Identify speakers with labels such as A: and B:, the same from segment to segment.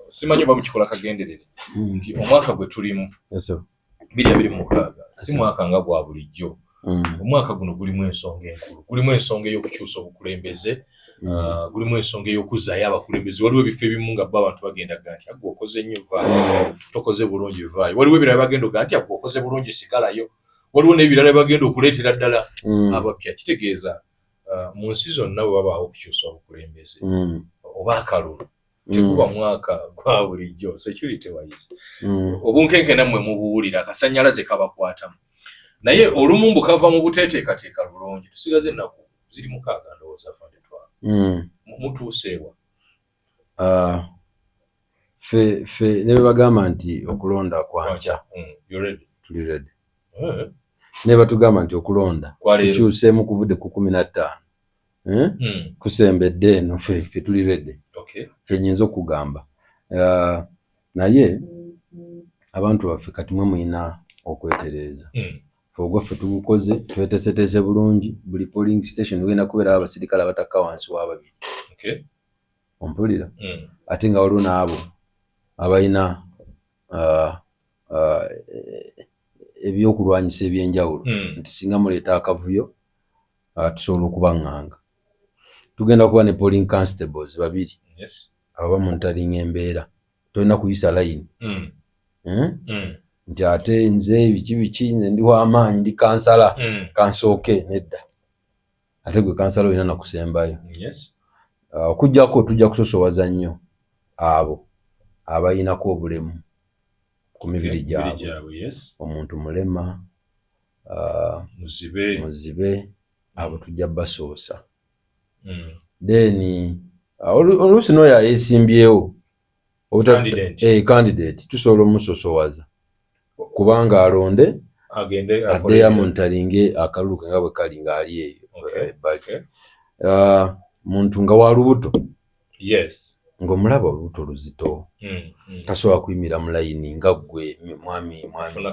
A: simanyi oba mukikola kagenderere hmm. nti omwaka gwe tulimu biri abiri mukaaga si mwaka nga gwa bulijjo hmm. omwaka guno gulimu ensonga enkulu gulimu ensonga ey'okukyusa obukulembeze hmm. ah, gulimu ensonga ey'okuzaayo abakulembeze waliwo ebifo ebimu nga bo abantu bagenda ga nti agwe okoze nnyo vaayo tokoze bulungi vaayo waliwo ebirala bagenda oga nti agwe okoze bulungi sigalayo waliwo n'ebirala bagenda okuleetera ddala abapya kitegeeza ah, mu nsi zonna bwe babaawo okukyusa obukulembeze oba akalulu tekuba mm. mwaka gwa bulijjo security wise mm. obunkenke nammwe mubuwulira akasanyalaze kabakwatamu naye olumu mbu kava mu buteteekateeka lulungi tusigaze ennaku ziri mukaaga ndowooza fandetwa mm. mutuuseewa ah,
B: fe fe ne bwe bagamba nti okulonda kwankya tuli redi eh. ne batugamba nti okulonda kukyuseemu kuvudde ku kumi na ttaano eh? mm. kusembedde eno fe tuli rede okay. kyenyinza okugamba uh, naye abantu baffe kati mwe mulina okwetereeza mm. ogwaffe tugukoze twetesetese bulungi buli polling station wena kubeerawo abasirikale abatakka wansi wa babiri okay. ompulira mm. ate nga waliwo naabo abalina uh, uh, ebyokulwanyisa ebyenjawulo hmm. nti singa muleeta akavuyo uh, tusobola okubaŋŋanga tugenda kuba ne polling constables babiri ababa mu ntalinga embeera tolina kuyisa layini hmm. Hmm? nti ate nze biki biki nze ndi wamaanyi ndi kansala kansooke nedda ate gwe kansala olina nakusembayo uh, okujjako tujja kusosowaza nnyo abo abayinako obulemu ku mibiri gyabwe omuntu mulema uh, muzibe abo tujja basoosa hmm. then uh, oluusi nooyo ayesimbyewo eh, candidate tusobola omusosowaza kubanga alonde addeyo amonitaringe akalulu ke nga bwe kali ng'ali eyo ebbali eh, ah, muntu nga wa lubuto ng'omulaba olubuto luzito hmm, hmm. tasobola kuyimira mu layini nga ggwe mwami mwamiafuna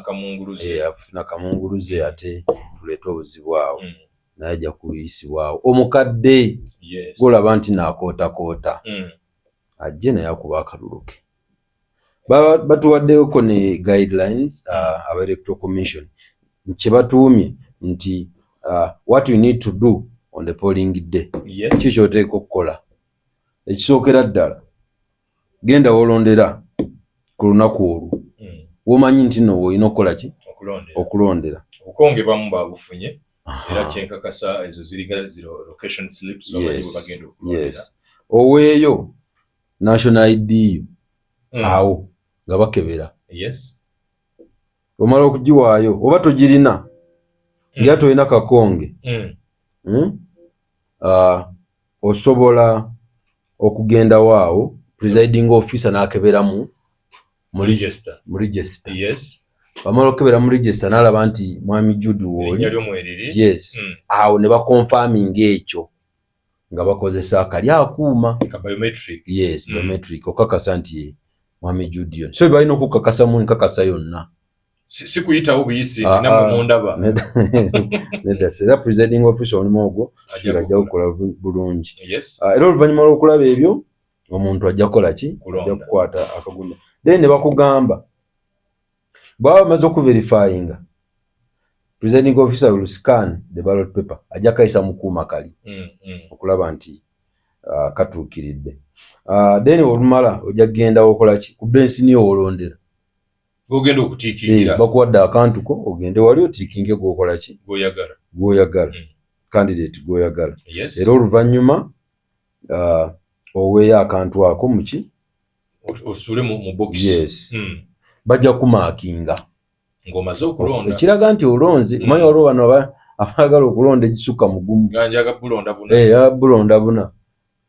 B: eh, kamunguluze hmm. ate tuleete obuzibu awo naye ajja kuyisibwawo omukadde golaba nti naakootakoota ajje naye akuba akalulu ke batuwaddeko ne guidelines uh, aba electoral commission kyebatuumye nti uh, what you need to do on the polling day yes. ki kyoteeka okukola ekisookera ddala genda wolondera ku lunaku olwo mm. womanyi nti no olina okukola ki okulondera obukonge bamu
A: babufunye era kyenkakasa ezo ziriga ziro location slips bamanyi bwe bagenda okulondera oweeyo
B: national id yo hmm. awo nga bakebera yes omala okugiwaayo oba togirina hmm. nga tolina kakonge hmm. ah, osobola okugendawo awo presiding officer n'akeberamu mu register mu register yes bamala okukebera mu register n'alaba nti mwami jude wooli yes hmm. awo ne bakonfaminga ekyo nga bakozesa akali akuuma yes hmm. biometric okakasa nti ye mwami jude yon so balina okukakasa mu nkakasa yonna sikuyitawo
A: buyisi nti ah, namwe ah. mundaba
B: nedda era presiding office omulimu ogwo ajja gukola bulungi ah, era oluvannyuma lw'okulaba ebyo omuntu ajja kukola ki ajja kukwata akagulu then ne bakugamba bwaba bamaze okuverifyinga presiding officer will scan the ballot paper ajja kayisa mukuuma kali mm, mm. okulaba nti uh, katuukiridde uh, then olumala ojja kugenda okola ki ku bensini owolondera ogenda
A: okutiikirira eh, bakuwadde akantu ko
B: ogende wali otiikinge gwokola ki gwoyagala gwoyagala mm. candidate gwoyagala era oluvannyuma uh, oweeyo akantu ako muki osule
A: mu bokisi yes. mm.
B: bajja kumakinga ng'omaze
A: okulonda ekiraga nti olonze
B: mm. manya waliwo bano abaagala okulonda egisukka mugumu njaga bulonda buna
A: eh, ya bulonda buna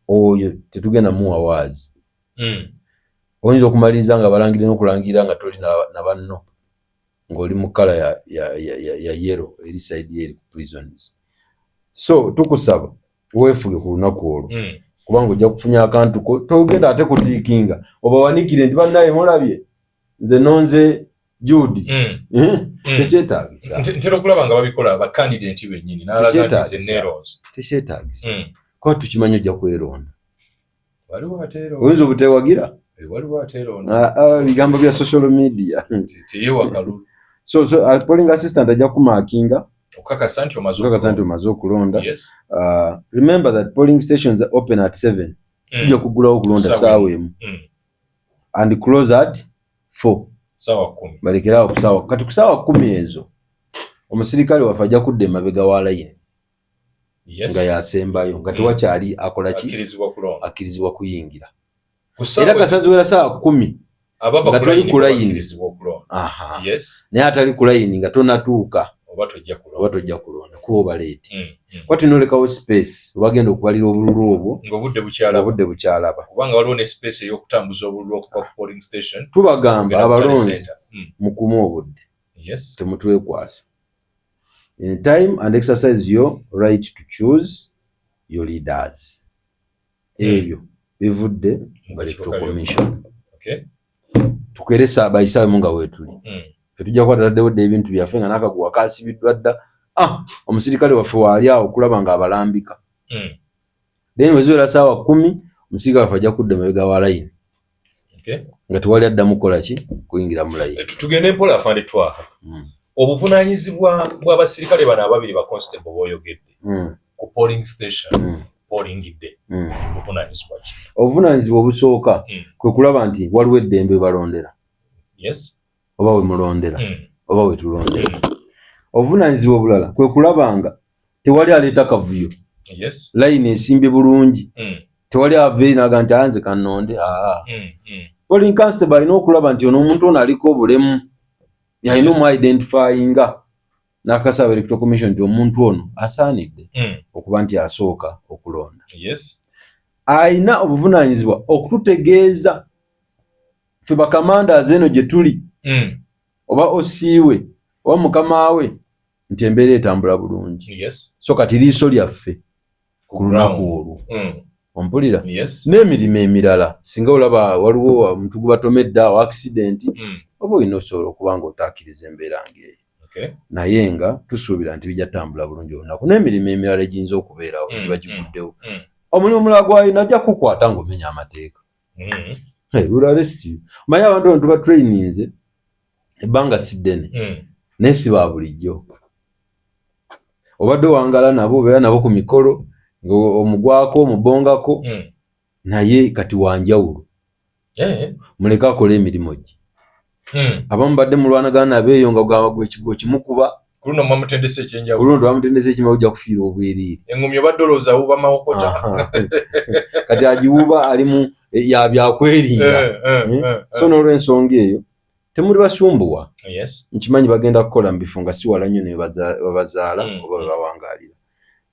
B: oyo tetugenda muwa waazi mm. oyinza okumaliriza nga balangire n'okulangira nga toli na banno ng'oli mu kkala ya, ya, ya, ya, ya yero eri saidi eri prisons so tukusaba weefuge ku lunaku olwo hmm. kubanga ojja kufunya akantu ko togenda ate kutiikinga obawanikire nti bannaye mulabye nze nonze juudi hmm. eh? hmm. tekyetagisa ntera okulaba
A: nga babikola bakandidenti benyini nalaga nti ze neros tekyetagisa
B: kuba tukimanyi
A: ojja
B: kweronda oyinza obutewagira
A: eh, ah, ah, bigambo bya social
B: media
A: so so uh,
B: polling assistant ajja kumakinga okakasa nti
A: omaze okakasa nti omaze okulonda
B: yes. uh, remember that polling stations are open at 7 mm. tujja mm. kugulawo okulonda saawa emu mm. and close at 4 saawa 10
A: balekerawo kusaawa kati
B: kusaawa 10 ezo omusirikale waffe ajja kudda emabega wa layini nga yasembayo nga tewakyali mm. akola ki akkirizibwa kuyingira era kasaziwera saa kumi nga toli ku layini naye atali ku layini nga tonatuuka oba tojja kulonda kuba obaleeti mm, mm. kuba tulina olekawo space obagenda okubalira obululu obwo ngaobudde bukyalaba kubanga waliwo ne space
A: eyokutambuza obululu okuva ku polling station tubagamba abalonzi
B: mukume obudde temutwekwasa in time and exercise your right to choose your leaders hmm. ebyo bivudde mu electoral commission tukeresa bayisaamu nga weetuli hmm. fetujja kuba taladdewo dda ebintu byaffe nga nakaguwa kasibiddwa dda ah, omusirikale waffe waali awo okulaba nga abalambika hmm. then weziwera saawa kumi omusirikale waffe ajja kudda emabega wa layini nga tewali addamu kukola ki kuyingira mulayi eh, tugende mpola afande
A: twaha hmm. obuvunanyizibwa bw'abasirikale bano ababiri ba constable boyogedde hmm. ku polling station hmm. olingidde obuvunanyizibwa ki obuvunanyizibwa obusooka
B: kwe kulaba nti waliwo eddembe balondera yes oba we mulondera hmm. oba we tulondera hmm. obuvunaanyizibwa obulala kwe kulaba nga tewali aleeta kavuyo layini esimbye bulungi hmm. tewali aveeri naga nti anze kanonde aa polin constable alina okulaba nti ono omuntu ono aliko obulemu yalina omu identifyinga n'akasaba electoral commission nti omuntu ono asaanidde hmm. okuba nti asooka okulonda alina obuvunaanyizibwa okututegeeza ffe bakamandazi eno gye tuli mm. oba osiiwe oba mukama we nti embeera etambula bulungi yes. so kati liiso lyaffe ku lunaku olwo mm. ompulira yes. n'emirimu emirala singa olaba waliwo omuntu gubatomedde awo accident mm. oba olina osobola okuba nga otaakiriza embeera ngaeyo okay. naye nga tusuubira nti bijja tambula bulungi olunaku n'emirimu emirala egiyinza okubeerawo mm. giba giguddewo mm. mm. omulimu omulala gwalina ajja kukwata ng'omenya amateeka mm. hey, will arrest you maya abantu bantu ba traininze ebbanga siddene mm. naye si ba bulijjo obadde owangala nabo obeera nabo ku mikolo omugwako omubongako mm. naye kati wanjawulo eh. muleke akola emirimu gye Hmm. abamu badde mulwanagana nabo eyo nga ogamba gwekigwa okimukuba kuluno muba mutendesa
A: ekyenjawulo kuluno tuba mutendesa ekimu
B: ojja kufiira obwereere engumi obadde olowooza
A: awuuba mawokota kati
B: agiwuuba alimu eh, ya byakwerinda eh, eh, hmm? so n'olwensonga eyo temuli basumbuwa nkimanyi bagenda kukola mu bifo nga siwala nnyo nebabazaala hmm. oba bebawangaalira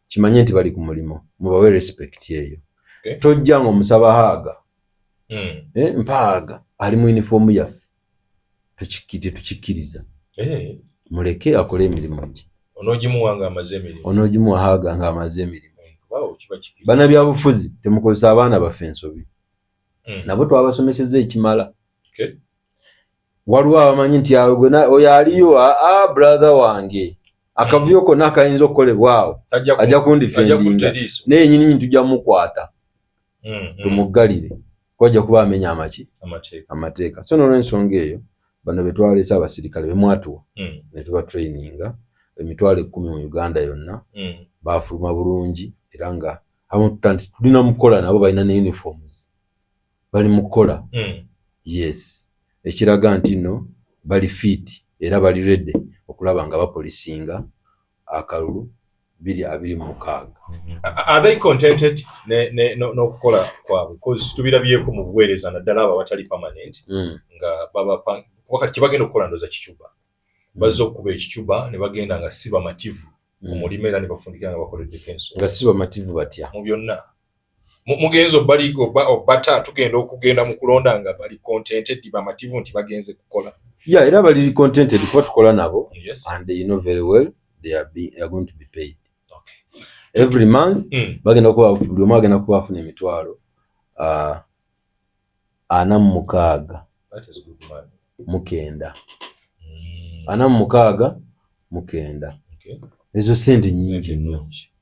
B: kimanye nti bali ku mulimu mubawe respect eyo okay. tojja nga omusaba haaga mm. eh, mpaaga ali mu yunifoomu yaffe tetukikkiriza hey. Eh. muleke akole emirimu gye onogimuwa nga amaze emirimu onogimuwa haaga nga amaze emirimu eh, wow, bana byabufuzi temukozesa abaana baffe ensobi mm. nabo twabasomeseza ekimala okay. waliwo abamanyi nti awo gwe oyo aliyo aa ah, ah, brother wange akavuyo konna akayinza okukolebwa awo ajja kundifendinga naye nyininyini tujja mukwata mm, mm. tumuggalire kwajja kuba amenya amaki amateeka so nolwensonga eyo bano betwalese abasirikale bemwatuwa mm. netuba traininga emitwalo ekkumi mu uganda yonna bafuluma bulungi era nga abamu tuta nti tulina mukukola nabo balina ne uniforms bali mu kukola mm. yes ekiraga nti no bali fit era bali rede okulaba nga bapolisinga akalulu biri
A: abiri mu mukaaga n'okukola kwabwe tubirabyeko mu buweereza naddala abo abatali permanent mm. nga babawakati kyebagenda okukola ndoza kicuba mm. bazze okukuba ekicuba ne bagenda nga si bamativu mm. omulima era ne bafundikira nga bakoleddeko ensonga nga si bamativu batya
B: mu byonna
A: mugenze obaliga oba obata tugenda okugenda mu kulonda nga bali contented bamativu nti bagenze kukola yeah era bali
B: contented kuba tukola nabo yes. and they know very well they are, be, they are going to be paid okay. every month mm. bagenda kuba buli omu agenda kuba afuna emitwalo uh, ana mu mukaaga mukenda mm. ana mu mukaaga mukenda okay. ezo sente nyingi nnyo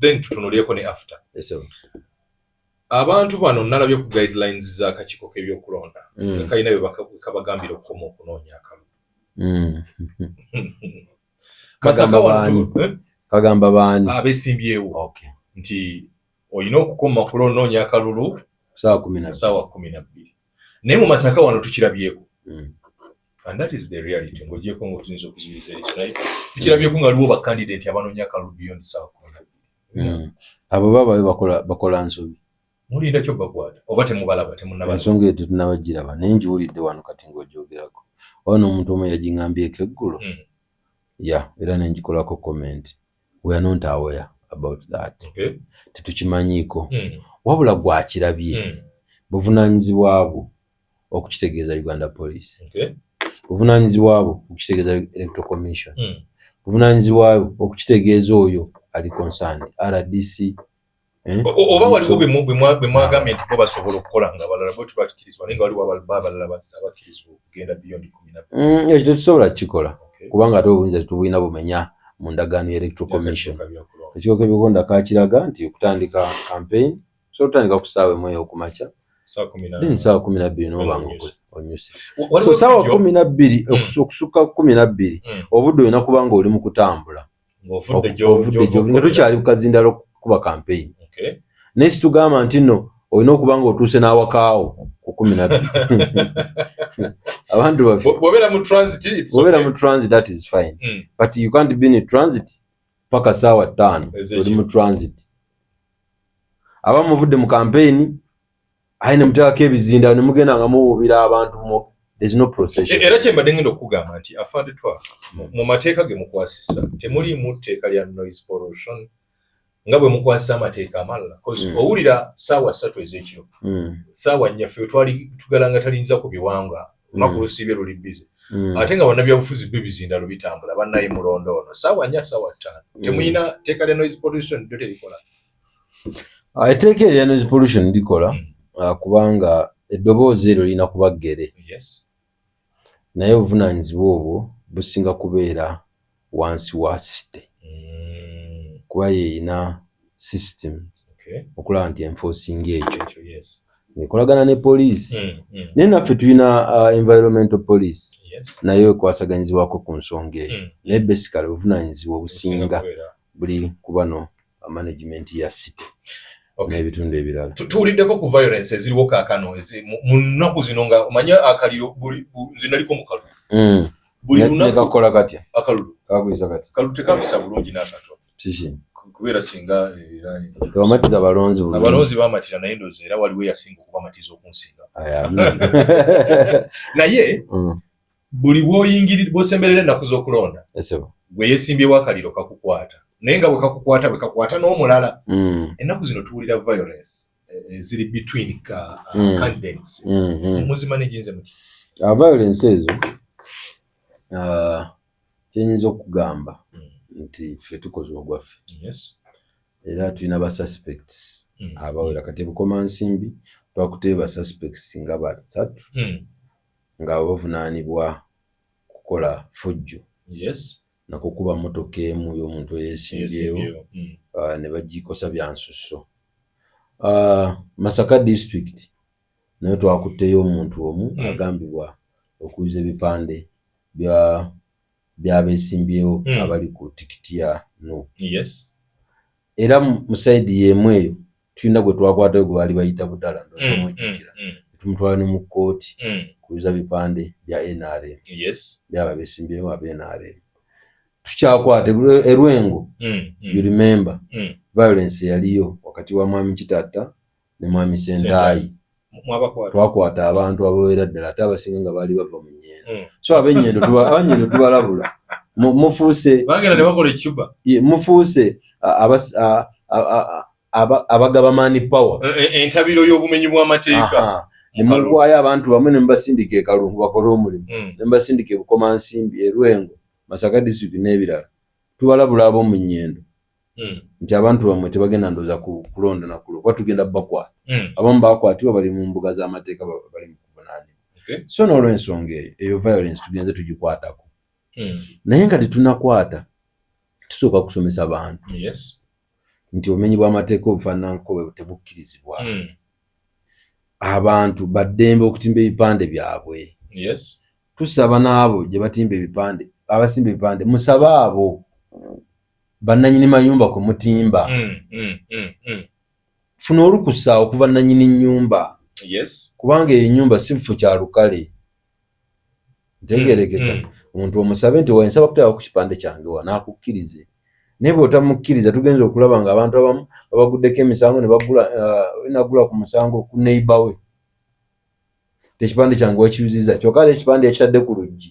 A: then tutunulyeko ne after yes, abantu bano nalabye ku guidelines za kakiko kebyokulonda mm. kalina bwekabagambira okukoma okunoonya akalu mm. masaka wantu eh? kagamba baani
B: abesimbyewo okay.
A: nti olina okukoma kulo onoonya akalulu saawa kumi
B: nabbiri naye mu
A: masaka wano tukirabyeko mm. and that is the reality ng'ogyeko ng'otuyinza okuziyiza ekyo naye tukirabyeko nga liwo bakandidate abanoonya akalulu beyond sawa kumi mm. abo baba
B: bakola nsobi mulinda kyo
A: bakwata oba temubalaba temunaba ensonga eyo tetunabagiraba
B: naye ngiwulidde wano kati ng'ogyogerako oba n'omuntu omu yaging'ambyeko eggulo mm. ya era nengikolako komenti We are not aware about that. Okay. Tetukimanyiiko. Mm. Wabula gwe akirabye. Mm. Buvunaanyizibwa bwo okukitegeeza Uganda Police. Okay. Buvunaanyizibwa bwo okukitegeeza Electoral Commission. Mm. Buvunaanyizibwa bwo okukitegeeza oyo ali concerned, RDC, Eh?
A: oba waliwo bemwagambye nti bo basobola okukola nga balala bwe tubakirizibwa naye nga waliwo abalala abakirizibwa okugenda beyond kumi na mm, ekyo tetusobola kukikola
B: kubanga ate obuyinza tetubulina bumenya mu ndagaano ya electoral commission ekigo kebikonda kakiraga nti okutandika campaign so otandika ku saawa emu eyo kumakya then
A: saawa kumi nabbiri
B: nobanga onyuse so saawa kumi nabbiri hmm. okusukka kumi nabbiri hmm. obudde olina kubanga oli mu kutambula ng'ovudde gy'ovudde nga tukyali ku kazindala okukuba kampeyini naye situgamba nti nno olina okuba nga otuuse n'awakaawo ku kumi na bbiri abantu babeera
A: mu transit that is
B: fine mm. but you can't be in transit paka saawa ttaano oli mu transit aba muvudde mu kampeyini aye ne muteekako ebizindaalo ne mugenda nga muwuubira abantu mu there's no procession. E, era kye mbadde ngenda okugamba
A: nti afande twa mu mateeka ge mukwasisa temuliimu tteeka lya noise pollution nga bwe mukwasisa amateeka amalala bcause mm. owulira saawa ssatu ez'ekiro mm. saawa nnyaffe twali tugalanga talinza ku biwanga lunaku mm. lusiibye luli bize mm. ate nga bannabyabufuzi byo bizindalo bitambula bannaye mulondo ono saawa nnya saawa ttaano mm. temulina tteeka lya noise pollution lyo terikola
B: Ah, etteeka erya noise pollution likola mm. ah, kubanga eddoboozi eryo lirina kuba ggere naye obuvunaanyizibwa obwo businga kubeera wansi wa site mm. kuba yeerina system okulaba nti enforcing ekyo ekolagana ne poliisi mm, naye naffe tulina ah, environmental police nayo ekwasaganyizibwako ku nsonga eyo naye basically obuvunaanyizibwa obusinga buli kubano management ya situ okay. n'ebitundu ebirala tuwuliddeko ku violence
A: eziriwo kaakano mu nnaku zino nga omanye akaliro nze naliko mu kalulu mm. buli lunakekakola katya akalulu
B: kakuyisa
A: katya kalulu
B: tekakusa bulungi
A: n'akatono kiki
B: kubeera singa
A: tebamatiza
B: eh, balonzi abalonzi bamatira naye ndoozi
A: era waliwo eyasinga okubamatiza okunsinga naye mm. buli bwoyingiri bwosemberera ennaku z'okulonda gwe yeesimbyewo akaliro kakukwata naye nga bwekakukwata bwekakwata n'omulala mm. ennaku zino tuwulira violence eh, eh, ziri between uh, mm. candidates mm-hmm. muzima negyinze muti uh, violence ezo
B: uh, kyenyinza okugamba mm. nti fe tukoze ogwaffe era tulina ba suspects mm. abawera kati ebukoma nsimbi twakuteba suspects nga basatu nga bavunaanibwa kukola fujjo na kukuba mmotoka emu y'omuntu eyeesimbyewo ah, ne bagikosa bya nsusso. Ah, Masaka disitulikiti nayo twakutteyo omuntu omu hmm. agambibwa okuyuza ebipande bya byabeesimbyewo hmm. abali ku tikiti ya nup era mu sayidi y'emu eyo tulina gwe twakwatayo gwe baali bayita budala ndomujjukira mm, mm, mm. tumutwala ne mu kkooti kubiza bipande bya nrm byaba besimbyewo aba nrm tukyakwata erwengo you remember violence eyaliyo wakati wa mwami kitatta ne mwami sendaayi twakwata abantu ababeera ddala ate abasinga nga baali bava mu nyendo hmm. so abenyendo abanyendo tubalabula
A: mufuuse
B: mufuuse abagaba mani power e, e, entabiro y'obumenyi
A: bw'amateeka nemugwayo
B: abantu bamwe nemubasindika ekalungu bakole omulimu hmm. nemubasindika ebukomansimbi erwengo masaka district n'ebirala tubalabula ab'omu nyendo hmm. nti abantu bamwe tebagenda ndoza kulonda nakulo kuba tugenda bakwa hmm. abamu bakwatibwa bali mu mbuga z'amateeka bali mu kuvunaanibwa so n'olwensonga eyo eyo violence tugenze tugikwatako hmm. naye nga tetunakwata tusooka kusomesa bantu nti obumenyi bw'amateeka obufaananko bwe tebukkirizibwa abantu baddembe okutimba ebipande byabwe tusaba n'abo gye batimba ebipande abasimba ebipande musabe abo bannanyini mayumba kwe mutimba mm, mm, mm, mm. funa olukusa okuva nanyini nyumba yes. kubanga eyo nyumba siffu kya lukale ntegerekeka mm, mm. omuntu mm, mm. omusabe nti wensaba kutaba ku kipande kyange wa nakukkirize naye bwotamukkiriza tugenza okulaba nga abantu abamu babaguddeko emisango nebagula uh, ku musango ku neiba we tekipande kyange wakiyuziza kyokka ekipande yakitadde ku luggi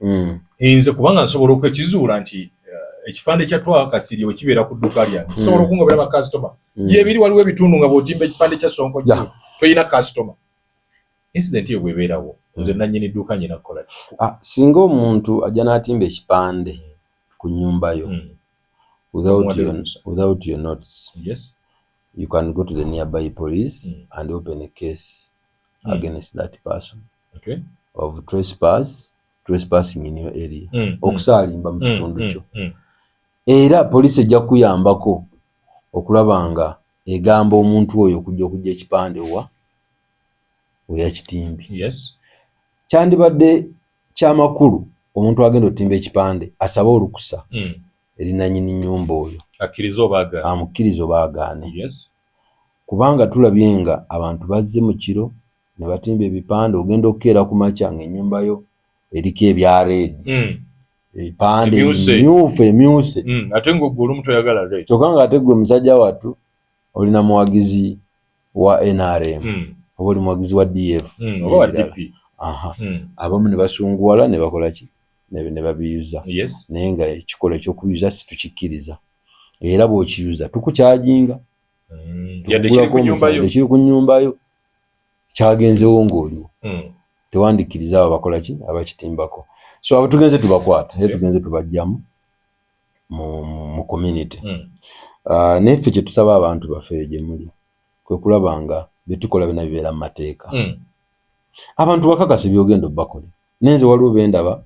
A: mm. nze kubanga nsobola okwekizuula nti eh, ekifande kya twa kasirye bwe kibeera ku dduuka lyange mm. sobola okungobera bakasitoma mm. gyebiri waliwo ebitundu nga bw'otimba ekipande kya sonko yeah. toyina kasitoma incident eyo bwebeerawo mm. nze nannyini dduuka nyina kukola ki ah, singa omuntu
B: ajja n'atimba ekipande ku nnyumba yo mm. without, your, without your notes yes. you can go to the nearby police mm. and open a case mm. against that person okay. of trespass trespassing in your area mm, mm. okusaalimba mm, mu kitundu mm, kyo mm, mm. era poliisi ejja kuyambako okulaba nga egamba omuntu oyo okujja okujja ekipande wa weyakitimbi yes. kyandibadde kyamakulu omuntu agenda otimba ekipande asabe olukusa mm. erinanyini nyumba oyo amukkiriza oba agaane yes. kubanga tulabye nga abantu bazze mu kiro ne batimba ebipande ogenda okukeera ku makya nga enyumba yo eriko ebya reedi hmm. ebipande myufu emyuse hmm, ate ngaogwe
A: olumu toyagala reedi kyokka nga ate gwe musajja
B: wattu olina muwagizi wa nrm hmm. oba oli muwagizi wa df
A: abamu
B: ne basunguwala ne bakola ki ne babiyuza naye nga ekikola ekyokuyuza situkikkiriza era bwokiyuza tukukyajinga ekiri ku nyumba yo kyagenzewo ng'oliwo hmm. tewandikkiriza abo abakola ki abakitimbako so abo tugenze tubakwata era tugenze tubajjamu mu community hmm. ah, naye ffe kyetusaba abantu baffe gye muli kwe kulaba nga byetukola byona bibeera mu mateeka hmm. abantu bakakasi byogenda obbakole naye nze waliwo bendaba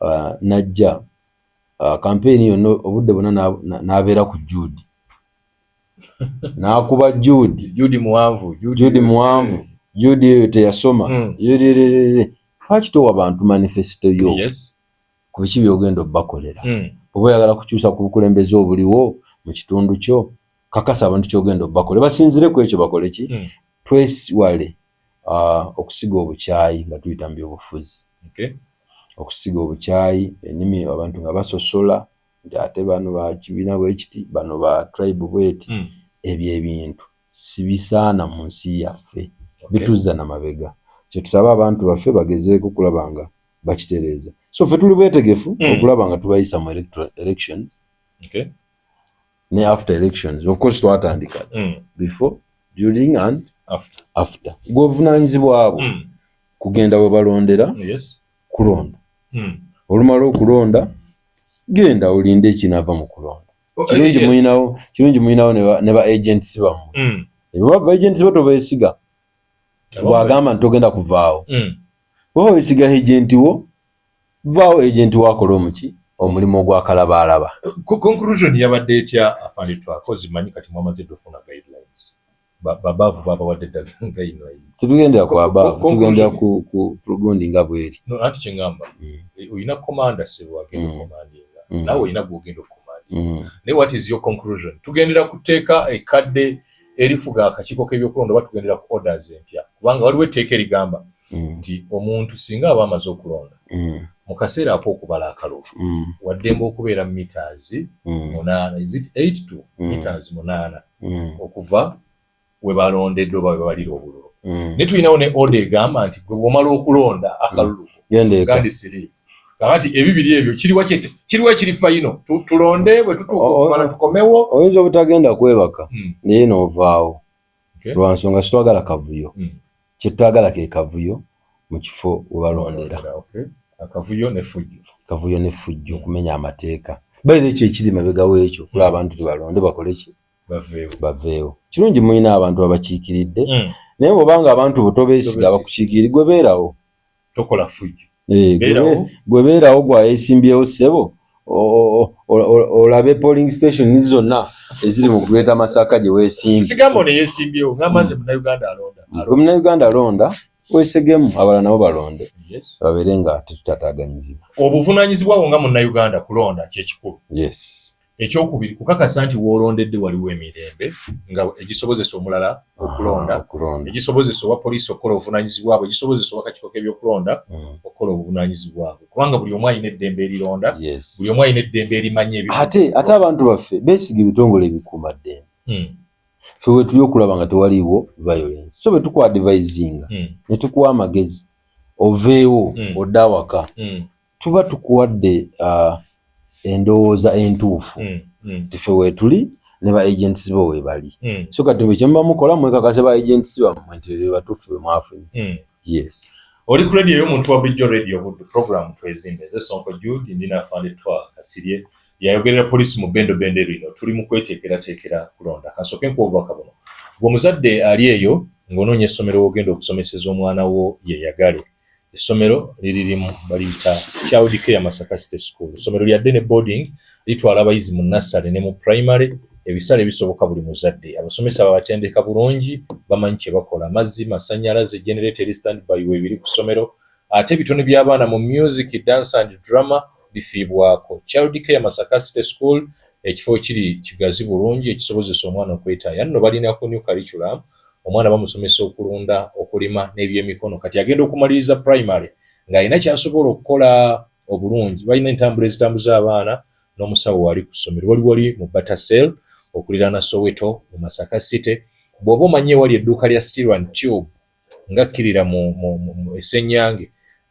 B: ah, najja ah, kampeyini yonna obudde bona n'abeera ku juudi nakuba judi judi muwanvu judi muwanvu judi eyo teyasoma mm. lwaki towa bantu manifesito yo yes. ku biki byogenda obakolera mm. oba oyagala kukyusa ku bukulembeze obuliwo mu kitundu kyo kakasa abantu kyogenda obakole basinzire ku ekyo bakole ki mm. twesiwale uh, okusiga obukyayi nga tuyita mu byobufuzi okay. okusiga obukyayi enimi abantu nga basosola nti ate bano bakibiina bwekiti bano ba tribe bweti mm. ebyo ebintu sibisaana mu nsi yaffe okay. bituzza na mabega kyetusaba abantu baffe bagezeeko okulaba nga bakitereeza so ffe tuli bwetegefu mm. okulaba nga tubayisa mu elections okay. ne after elections of course twatandika mm. before during and after, after. govunanyizibwabo mm. kugenda webalondera yes. kulonda hmm. olumala okulonda genda olinde ekinava mu kulonda oh, kirungi eh, muyinawo kirungi muyinawo ne ba agents bamwe hmm. eba ba agents bo tobesiga bwagamba nti togenda kuvaawo hmm. oba wesiga agenti wo vaawo agenti wo akola omuki omulimu ogwakalabaalaba conclusion
A: yabadde etya afandetwakozimanyi kati mwamaze dofuna guidelines babavu babawadde eddagala nga ino tetugendera ku abavu
B: tugendera ku gundi nga bweri anti kyengamba
A: eh, olina komanda sebo agenda mm. okomandinga mm. nawe olina gwogenda okukomandinga mm. naye what is your conclusion tugendera ku tteeka ekadde erifuga akakiiko k'ebyokulonda oba tugendera ku orders empya kubanga waliwo etteeka erigamba nti omuntu singa aba amaze okulonda mu kaseera ak'okubala akalulu waddembe okubeera mu mitaazi munaana is it eight to mitaazi munaana mm. mm. okuva we balondedde oba we babalira obululu mm. naye tulinawo ne oda egamba nti gwe bwomala okulonda akalulu mm. gandi siri kakati ebibiri ebyo kiriwa kiriwa ekiri fayino tulonde bwe tutuukana tukomewo oyinza obutagenda
B: kwebaka mm. naye novaawo lwansonga sitwagala kavuyo mm. Kyetwagala ke kavuyo mu kifo we balondera. Akavuyo
A: ne fujjo. Kavuyo ne fujjo okumenya amateeka.
B: Bayiza ekyo ekiri mabega w'ekyo kula abantu tebalonde bakole ki? Baveewo. Baveewo. Kirungi mulina abantu abakiikiridde hmm. naye bw'oba nga abantu bo tobeesiga abakukiikiridde gwe beerawo. tokola fujjo
A: eh, gwe
B: beerawo gwayesimbyewo ssebo olabe polling station zonna eziri mu greater masaka gye
A: wesimbyewmunauganda
B: mm. alonda wesegemu abala nabo balonde babeere nga tetutataganyizibwa obuvunanyizibwa bwo
A: nga munauganda kulonda kyekikulu yes Ekyokubiri, kukakasa nti woolondedde waliwo emirembe nga egisobozesa omulala okulonda, egisobozesa owa poliisi okukola obuvunaanyizibwa bwe, egisobozesa owa kakiiko k'ebyokulonda hmm. okukola obuvunaanyizibwa bwe, kubanga buli omu alina eddembe erironda, buli omu alina eddembe erimanya ebi. Ate ate abantu
B: baffe beesiga ebitongole ebikuuma ddembe. Hmm. Ffe bwe tuli okulaba nga tewaliiwo violence, so bwe tukwadivaizinga hmm. ne tukuwa amagezi oveewo odde awaka. tuba tukuwadde uh, endowooza entuufu mm, mm. tife wetuli ne ba agents bo webali mm. so kati bwe kyemuba mukola mwekakase ba agents bammwe nti ebyo batuufu bwe mwafunye mm. yes oli
A: ku radio y'omuntu wa bulijjo radio buddu program twezimbe eze sonko jude ndi nafande twa kasirye yayogerera poliisi mu bendobendo ebino tuli mu kweteekerateekera kulonda kansooke nkuobubaka buno gwe omuzadde ali eyo ng'onoonya essomero wogenda okusomeseza omwana wo yeyagale Essomero liri limu baliyita Child Care Masaka City School. Essomero lya day ne boarding litwala abayizi mu nursery ne mu primary ebisale bisoboka buli muzadde. Abasomesa babatendeka bulungi, bamanyi kye bakola. Amazzi, masannyalaze, generator eri standby weebiri ku ssomero. Ate ebitone by'abaana mu music, dance and drama bifiibwako. Child Care Masaka City School ekifo kiri kigazi bulungi ekisobozesa omwana okwetaaya. Nno balina ku new curriculum omwana bamusomesa okulunda okulima n'ebyemikono kati agenda okumaliriza primary ng'alina kyasobola okukola obulungi balina entambula ezitambuza abaana n'omusawo waali ku ssomero wali wali mu batasel okuliraana soweto mu masaka city bw'oba omanyi ewali edduuka lya stirwan tube ngakkirira mu esenyange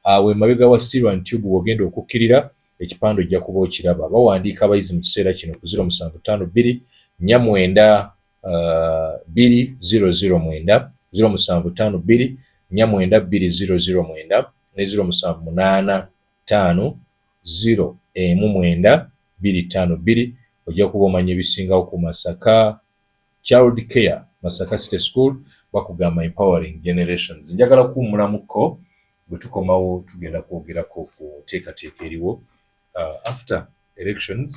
A: awo emabega wa stirwan tube wogenda okukkirira ekipande ojja kuba okiraba bawandiika abayizi mu kiseera kino ku ziro musanvu ttaano bbiri nnya mwenda uh, bbiri ziro ziro mwenda ziro musanvu ttaano bbiri nnya mwenda bbiri ziro ziro mwenda ne ziro musanvu munaana ttaano ziro emu mwenda bbiri ttaano bbiri ojja kuba omanya ebisingawo ku masaka child care masaka city school bakugamba empowering generations njagala kuwumulamuko bwe tukomawo tugenda kwogerako ku nteekateeka eriwo uh, after elections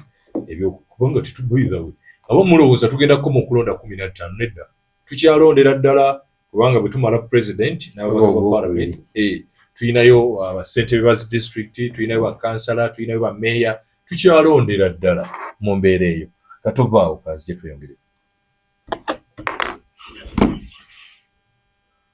A: ebyokubanga tetubaihawe aba mulowooza tugenda kukoma okulonda kumi na ttaano nedda tukyalondera ddala kubanga bwe tumala president n'ababaka ba parliament eh, tulinayo uh, bassentebe ba district tulinayo bakansala tulinayo bameeya tukyalondera ddala mu mbeera eyo nga tovaawo kanzije tweyongereko